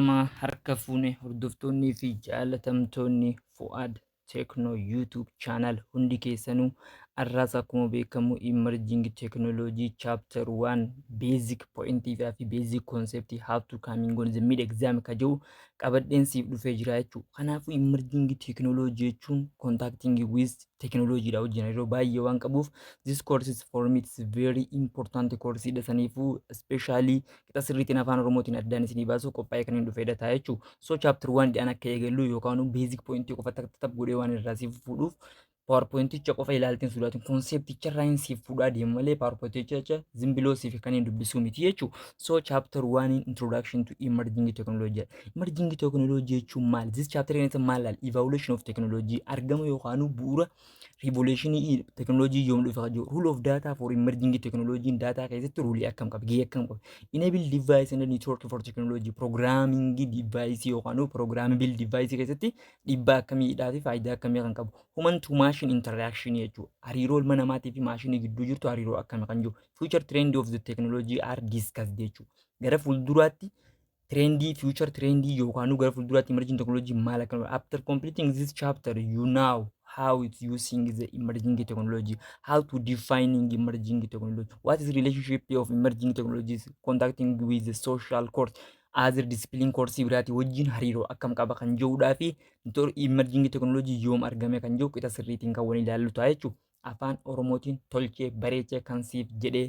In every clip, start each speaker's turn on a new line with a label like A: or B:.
A: Eeyyama harka fuune hordoftoonnii fi jaalatamtoonni Fu'aad Techno YouTube channel hundi keessanuu arraas akkuma beekamu emerging technology chapter 1 basic point fi basic concept how to coming on the mid exam ka jiru qabadheen siif dhufee jira jechuudha. Kanaafuu emerging technology jechuun contacting with technology dha wajjin yeroo baay'ee waan qabuuf this course is for me it's very important course dha saniifuu especially qixa sirriitiin afaan oromootiin addaan isinii baasuu qophaa'ee kan hin dhufeedha ta'a jechuun so chapter waan dhi'aan akka eegallu yookaan beezik poointii qofa takka takka godhee waan irraa siif fuudhuuf paawarpoointicha qofa ilaalteen sodaatiin koonsepticha irraa hin siif fuudhaa deemu malee paawarpoointicha zimbiloo siif kan hin dubbisuu miti jechuun so chapter waan introduction to emerging technology emerging technology jechuun maal this chapter in maal evaluation of technology argama yookaan bu'uura Riivoleeshinii teknooloojii yoom dhufe kan jiru. Rule of data for emerging teknooloojiin daataa keessatti ruulii akkam qaba gahee akkam qaba. Enable device and network for technology programming device yookaan immoo programmable device keessatti dhiibbaa akkamiidhaa fi faayidaa akkamii kan qabu. Human to machine interaction jechuudha. Hariiroo ilma namaatii fi maashinii gidduu jirtu hariiroo akkami kan jiru. Future trend of the technology are discussed jechuudha. Gara fuulduraatti Trendii, future trendii yookaanuu gara fuulduraatti emerging technology maal akka ta'u. After completing this chapter, you know how it's using the emerging technology, how to defining emerging technology, what is relationship of emerging technologies contacting with the social course, other discipline course biraati wajjin hariiroo akkam qaba kan jiruudhaa fi inter- emerging technology yoom argame kan jiru qixa sirriitiin kan waliin ilaallu ta'a jechuudha. Afaan Oromootiin tolchee bareechee kan siif jedhee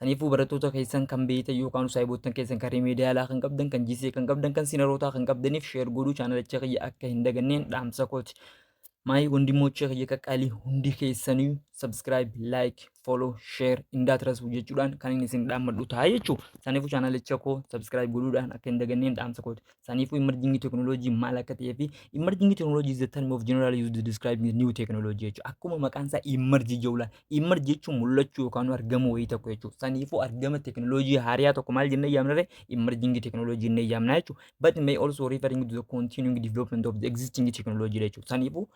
A: Kaniifuu barattoota keessan kan beeytan yookaan saahiboottan keessan kan rimeediyaalaa kan qabdan kan GCA kan qabdan kan sinarootaa kan qabdaniif sheer godhuu chaanalicha kiyya akka hin daganneen dhaamsa kooti. Maayi wandimoochee kiyya qaqqaalii hundi keessaniyu subscribe, like, follow, share indaatirasuu jechuudhaan kan inni isin dhaammadhu ta'a jechuudha. Kaniifuu chaanalicha koo subscribe godhuudhaan akka hin daganneen dhaamsa kooti. Saniifuu emerging technology maal akka ta'ee fi emerging technology is the term of generally used to describe new technology jechuudha. Akkuma maqaan isaa emerge jechuudha. Emerge jechuun mul'achuu yookaan argamuu wayii tokko jechuudha. Saniifuu argama teknooloojii haariyaa tokko maal jennee yaamnarre emerging technology jennee yaamna jechuudha. But may also referring to the continuing development of the existing technology jechuudha. Saniifuu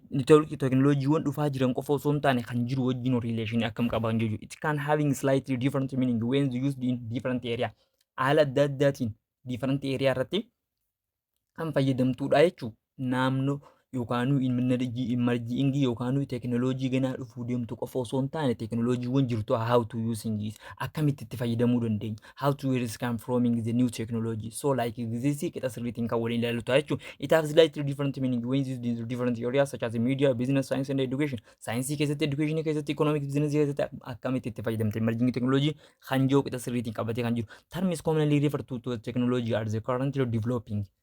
A: network teknolojiiwwan dhufaa jiran qofa osoo hin taane kan jiru wajjin relation akkam qaban jechuudha. It can having slightly different meaning when used in different area. Haala adda addaatiin different area irratti kan fayyadamtuudha jechuudha. Naannoo yookaanuu imarjiingii yookaanuu teknolojii ganaa dhufuu deemtu qofa osoo hin taane teknolojiiwwan jirtu how to using akkamitti itti fayyadamuu dandeenya. how to where is come from in the new technology. So like this is kita sirriitiin kan waliin ilaalu ta'a jechuudha. It has slightly different meaning when used in different areas such as media, business, science and education. Saayinsii keessatti, education keessatti, economics, business keessatti ak- akkamitti itti fayyadamte emerging technology kan jiru kita sirriitiin qabatee kan jiru. Terms commonly referred to, to technology are the currently developing.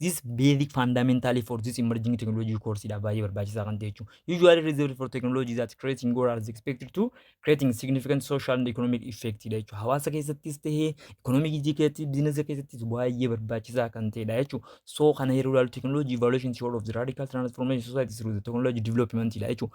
A: This basic fundamentally for this emerging technology course dha baay'ee barbaachisaa kan ta'e jechuudha. Usually reserved for technology that creating or as expected to creating significant social and economic effect dha jechuudha. Hawaasa keessattis ta'ee economic ijii keessatti biizinasa keessattis baay'ee barbaachisaa kan ta'e dha jechuudha. So kana yeroo ilaalu technology evaluation is all of the radical transformation society through the technology development dha jechuudha.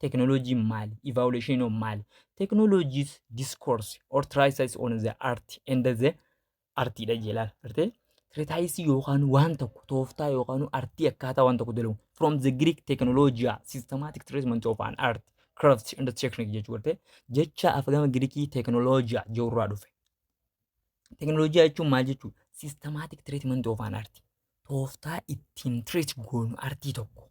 A: Teknooloojiin maali? Evaluation of maali? Technologies discourse or treatises on the art and the artii dha jee laal. Artee? Treatises yookaan waan tokko tooftaa yookaan artii akkaataa waan tokko dalagu. From the Greek technologia systematic treatment of an art crafts and technique jechuu artee? Jecha afgama Girikii teknooloojiyaa jirurraa dhufe. Teknooloojiyaa jechuun maal jechuudha? Systematic treatment of an art. tooftaa ittiin treat goonu artii tokko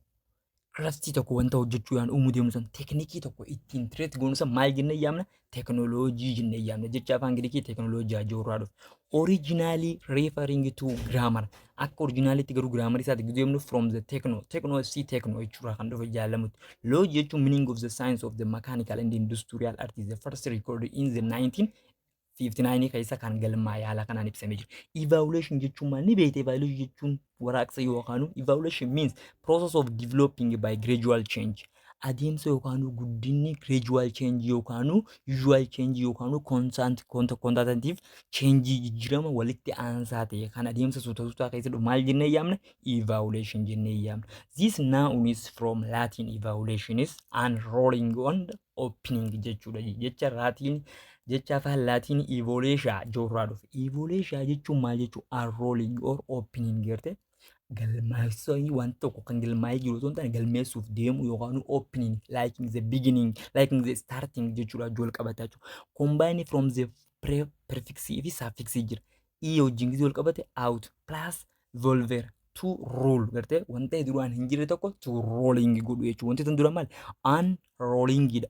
A: craftii tokko wanta hojjechuu yaan uumuu deemnu san teknikii tokko ittiin treat goonu san maal jennee yaamna teknooloojii jennee yaamna jecha afaan ingiliikii teknooloojii ajoo irraa dhufe originally referring to grammar akka originaalitti garuu grammar isaati gidduu deemnu from the techno techno si techno jechuurraa kan dhufe jaalamutti loji jechuun meaning of the science of the mechanical and industrial art is the first recorded in the 19 59 keessa kan galmaa'e haala kanaan ibsamee jira. Evaluation jechuun maal ni beekte? Evaluation jechuun waraaqsa yookaanuu evaluation means process of developing by gradual change. Adeemsa yookaanuu guddinni gradual change yookaanuu usual change yookaanuu constant quantitative change jijjiirama walitti aansaa ta'e kan adeemsa suuta suutaa keessa dhufu maal jennee yaamna? Evaluation jennee yaamna. This noun is from Latin evaluation is unrolling on the opening jechuudha. Jecha Latin Jecha afaan Laatiin ivoleeshaa joorraa dhufe. Ivoleeshaa jechuun maal jechuu? Unrolling or opening jettee galmaa'isanii waan tokko kan galmaa'ee jiru osoo hin taane galmeessuuf deemu yookaan opening liking the beginning liking the starting jechuudha jool qabata jechuudha. Combine from the pre prefix fi suffix jira. E wajjin gizee wal qabate out plus volver to roll gartee wanta duraan hin jirre tokko to rolling godhu jechuudha. Wanti tun dura maal? Unrolling dha.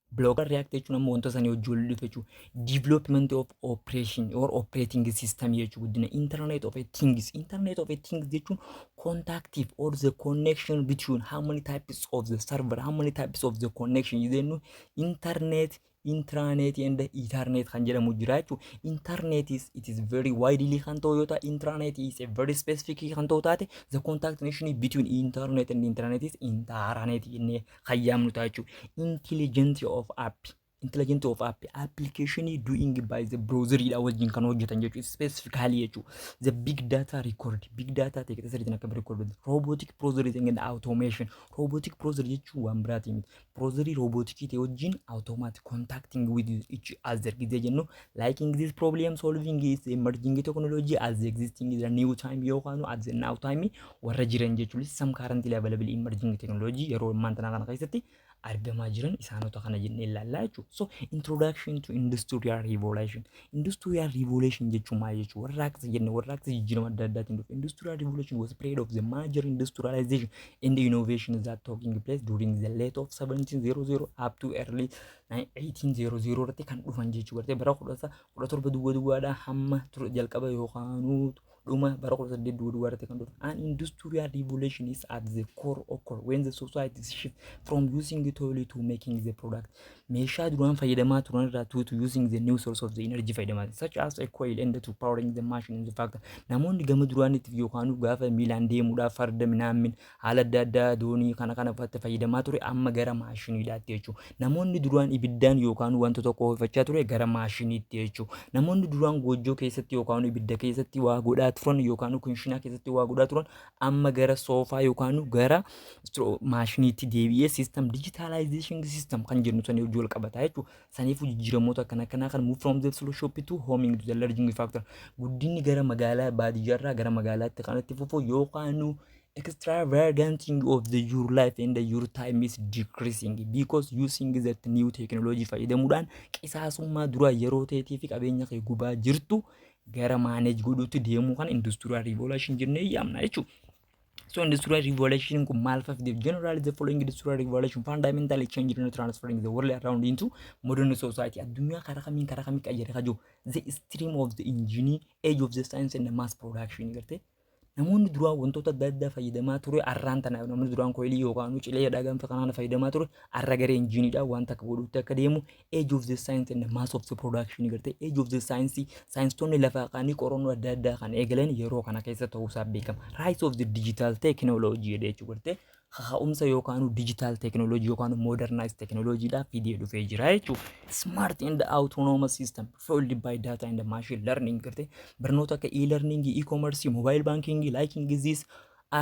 A: Blogger React jechuun ammoo wanta sanii hojii wal dhufe jechuudha. Development of operation or operating system jechuudha guddina. Internet of a things. Internet of a things jechuun contactive or the connection between how many types of the server, how many types of the connection jennu internet intranet and ethernet kan jedhamu jira jechuudha. Internet is it is very widely kan ta'u yoo ta'e intranet is a very specific kan ta'u taate the contact nation between internet and intranet is intranet jennee kan yaamnu ta'a jechuudha. Intelligent of app. Intelligent of app. Application doing by the browser dha wajjin kan hojjetan jechuudha. Specifically jechuudha. The big data record. Big data ta'e keessa sirriitti akka record hojjetu. Robotic browser is and automation. Robotic browser jechuun waan biraatii miti. Browserii robotikii ta'e wajjin automatic contacting with each other gidee jennu Liking this problem solving is emerging technology as the existing is the new time yookaan at the now time warra jiran jechuun some currently available emerging technology yeroo ammaan tanaa kana keessatti argamaa jiran isaanota kana jennee ilaallaa jechuudha. So introduction to industrial revolution. Industrial revolution jechuun maal jechuudha? Warraaqsa jenne warraaqsa jijjiirama adda addaatiin dhufe. Industrial revolution was a period of the major industrialization and innovation that taking place during the late of 1700 up to early 1800 irratti kan dhufan jechuu gartee bara 17 duwwa duwwaadhaa hamma ture jalqaba yookaanuu dhuma bara 18 duwwa duwwaa irratti kan dhufan. An industrial revolution is at the core occur when the society shift from using the oil to making the product. Meeshaa duraan fayyadamaa turan irraa to to using the new source of the energy fayyadamaa turan. such as a coil and to powering the machine in the factory. Namoonni gama duraaniitiif yookaanuu gaafa miilaan deemuudhaaf farda minaammin haala adda addaa doonii kana kana fa'aatti fayyadamaa ture amma gara maashiniidhaatti jechuudha. Namoonni duraan ibiddaan yookaan wanta tokko ho'ifachaa ture gara maashiniitti jechuudha. Namoonni duraan goojjoo keessatti yookaan ibidda keessatti waa godhaa turan yookaan kunshinaa keessatti waa godhaa turan amma gara soofaa yookaan gara stro- maashiniitti deebi'ee system digitalization system kan jennu sanii hojii wal qabata jechuudha. Saniifuu jijjiiramoota akkana kanaa kan move from the slow shop to homing to the larging factor guddinni gara magaalaa baadiyyaarraa gara magaalaatti kan itti fufu yookaan extravaganting of the your life and your time is decreasing because using that new technology fayyadamuudhaan qisaasummaa duraa yeroo teetii fi qabeenya kee gubaa jirtu gara maaneej godhuutti deemuu kan industrial revolution jennee yaamna jechuudha. So industrial revolution kun maal fafdeef generally the following industrial revolution fundamentally changed and transforming the world around into modern society addunyaa karaa kamiin karaa kamiin qayyare kajoo the stream of the engineer age of the science and the mass production gartee Namoonni duraa wantoota adda addaa fayyadamaa ture arraan tana namni duraan koilii yookaan cilee dhagaan kanaan fayyadamaa ture arra garee injiinidha waan takka godhuutti akka deemu age of the science and mass of the production gartee age of the science saayinstoonni lafaa kaanii qorannoo adda addaa kan eegalan yeroo kana keessa ta'uu isaa beekama rise of the digital technology jedhee jechuu gartee kaka'umsa yookaanuu digital technology yookaanuu modernized technology dhaa fidee dhufee jira jechuu smart and autonomous system fueled by data and machine learning garte barnoota akka e-learning, e-commerce, mobile banking, liking disease,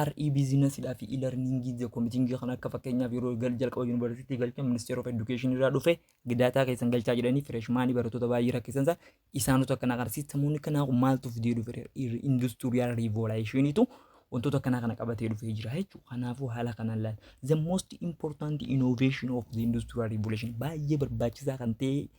A: RE business dhaa fi e-learning the committing kan akka fakkeenyaaf yeroo gal jalqaba university galcha ministeer of education irraa dhufe daataa keessan galchaa jedhanii freshman barattoota baay'ee rakkisansa Isaantu akka kana kana sistemoonni kanaa kun maaltu fidee dhufe industrial revolution'itu wantoota akkanaa kana qabatee dhufee jira jechuudha. Kanaafuu haala kanaan laal. The most important innovation of the industrial revolution baay'ee barbaachisaa kan ta'e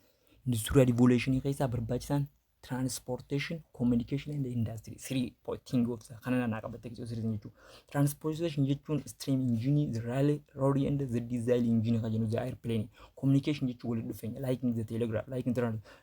A: industrial revolution keessaa barbaachisaan transportation, communication and industry three po- thing of the kana nanaa qabattee keessoo sirriin jechuudha. Transportation jechuun stream engine, the railway, road and the diesel engine kan jennu the airplane. Communication jechuun walitti dhufeenya like in the telegraph, like in the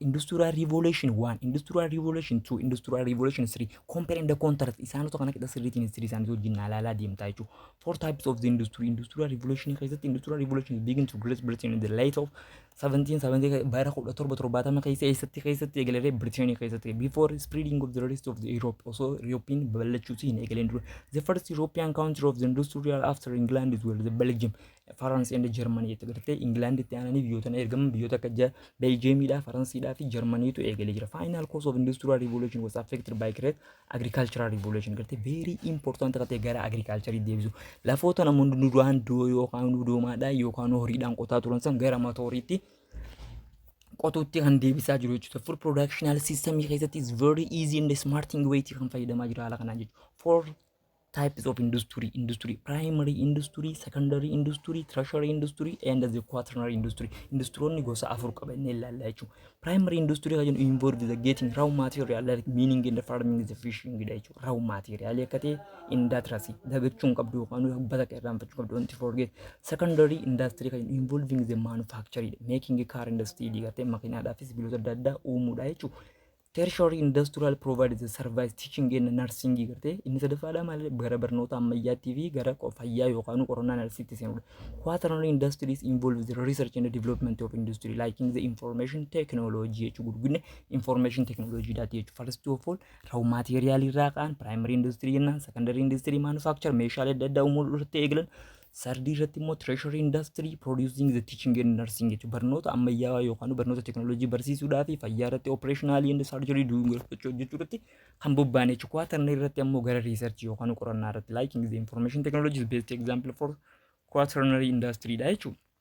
A: Industrial Revolution 1, Industrial Revolution 2, Industrial Revolution 3, compare and contrast isaanota kana qixa sirriitiin history isaanii wajjin ilaalaa deemtaa jechuudha. Four types of the industry, Industrial Revolution keessatti Industrial Revolution begin to Great Britain in the late of 1770 bara 1770 keessa eessatti keessatti eegalee Britain keessatti before spreading of the rest of the Europe osoo European babal'achuutti hin eegaleen dura. The first European country of the industrial after England is well, the Belgium. Faransi and Jarmanii jette gartee Ingilaanditti aananii biyyoota ergaman biyyoota akka ja Beeljiyeemiidhaa, Faransiidhaa fi Jarmaniitu eegalee jira. Final cause of industrial revolution was affected by great agricultural revolution gartee very important akka ta'e gara agriculturii deebisu. Lafoota namoonni duraan doo yookaan doomaadhaan yookaan horiidhaan qotaa turan san gara matooriitti qotuutti kan deebisaa jiru jechuudha. Food productional system keessatti is very easy and smart way kan fayyadamaa jira haala kanaan jechuudha. For types of industry industry primary industry secondary industry tertiary industry and the quaternary industry industrionni gosa afur qaba inni ilaalla jechuun primary industry kan jennu involve the getting raw material like meaning in the farming the fishing dha jechuun raw material akka ta'e industry dagachuu hin qabdu yookaan hubbata akka irraanfachuu qabdu wanti forget secondary industry kan jennu involving the manufacturing making car and steel gartee makiinaadhaafis biloota adda addaa uumuudha jechuun Tertiary Industrial Provides the Service Teaching and Nursing garte inni sadaffaadha maal gara barnoota ammayyaattii fi gara qo- fayyaa yookaan qorannaa narsiitti seenudha. Quaternary Industries involves the research and development of industry like in the information technology jechuu gurgudne information technology daati jechuu first of all raw material irraa ka'an primary industry jennaan secondary industry manufacture meeshaalee adda addaa uumuu irratti eegalan Sardii irratti immoo treasury industry producing the teaching and nursing jechuun barnoota ammayyaawaa yookaan barnoota teknooloojii barsiisuudhaa fi fayyaa irratti operationally and surgery doing irratti hojjechuu irratti kan bobba'an jechuudha. Kuwaatarni irratti ammoo gara research yookaan qorannaa irratti liking the information technologies best example for quaternary industry dha jechuudha.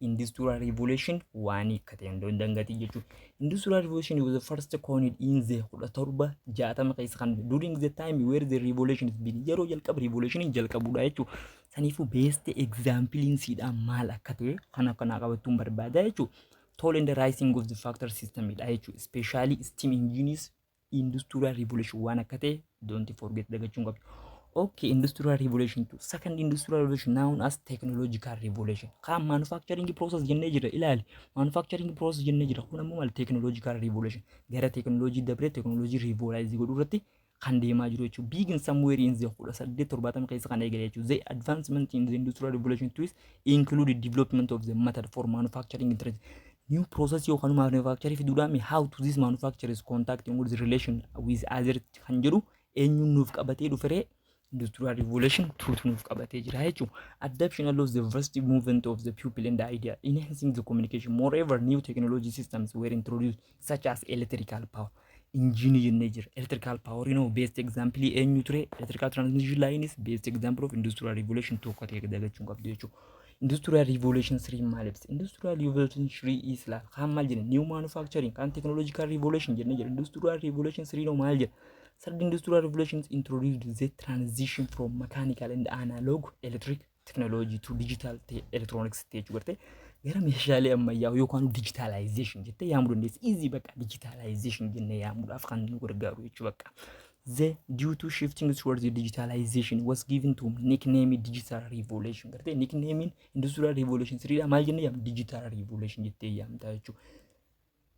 A: industrial revolution waan hiikkate hundoo hin dangatiin jechuudha. Industrial revolution was the first coined in the 1760 keessa kan during the time where the revolution is been yeroo jalqaba revolution jalqabudha jechuudha. Saniifuu best example siidhaa maal akka ta'e kan akkanaa qabachuun barbaada jechuudha. Toll and the rising of the factor system dha jechuudha. Especially steam engines industrial revolution waan akka ta'e don't forget dagachuun qabdu. Okay, industrial revolution tu second industrial revolution known as technological revolution. Kaan manufacturing process jennee jira ilaali. Manufacturing process jennee jira kun ammoo maal technological revolution gara technology dabree technology revolutionize godhuu irratti kan deemaa jiru jechuudha. Big in somewhere in the 1870 keessa kan eegale jechuudha. The advancement in the industrial revolution tools include development of the method for manufacturing internet. new process yookaan manufacture fiduudhaan mee how to this manufacture is contacting with relation with other kan jedhu eenyuun nuuf qabatee dhuferee industrial revolution tuutu nuuf qabatee jira jechuudha. Adoption allows the vast movement of the people and the idea, enhancing the communication. Moreover, new technology systems were introduced such as electrical power. injiinii jennee jira. Electrical power inoo best example eenyu ture? Electrical transmission line is best example of industrial revolution tokko ta'e dagachuun qabdu jechuudha. Industrial revolution 3 maal ibsa? Industrial revolution 3 is laal kaan maal jenna? New manufacturing kaan technological revolution jennee jira. Industrial revolution 3 inoo maal jenna? Third industrial revolution introduced the transition from mechanical and analog electric teknooloojii tu dijitaal ta'e elektirooniks ta'e jechuu gartee gara meeshaalee ammayyaa yookaan dijitaalaayizeeshin jettee yaamuu dandeessi. Iizii bakka dijitaalaayizeeshin jennee yaamuudhaaf kan nu gargaaru jechuu bakka. The due to shifting towards the digitalization was given to nickname digital revolution gartee nicknamein industrial revolution siriidha maal jennee yaamna digital revolution jettee yaamtaa jechuudha.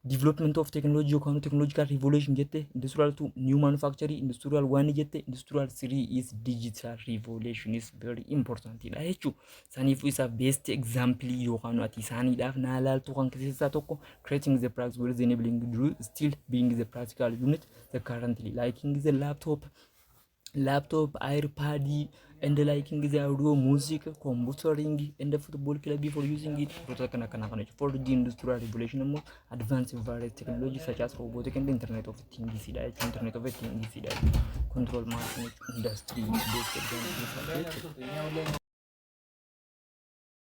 A: development of technology yookaan technological revolution jette industrial two new manufacture industrial one jette industrial three is digital revolution is very important dha jechuu saniif isaaf best example yookaan ati isaaniidhaaf naa laaltu kan keessaa tokko creating the practical with enabling you still being the practical unit the currently liking the laptop laptop, iPad, and liking the audio, music, computing, and the football club for using it. Wantoota kana kana kana jechuudha. 4G industrial revolution immoo advanced various technology such as robotic and internet of things dha jechuudha. Internet of things dha jechuudha. Control machine industry based advanced jechuudha.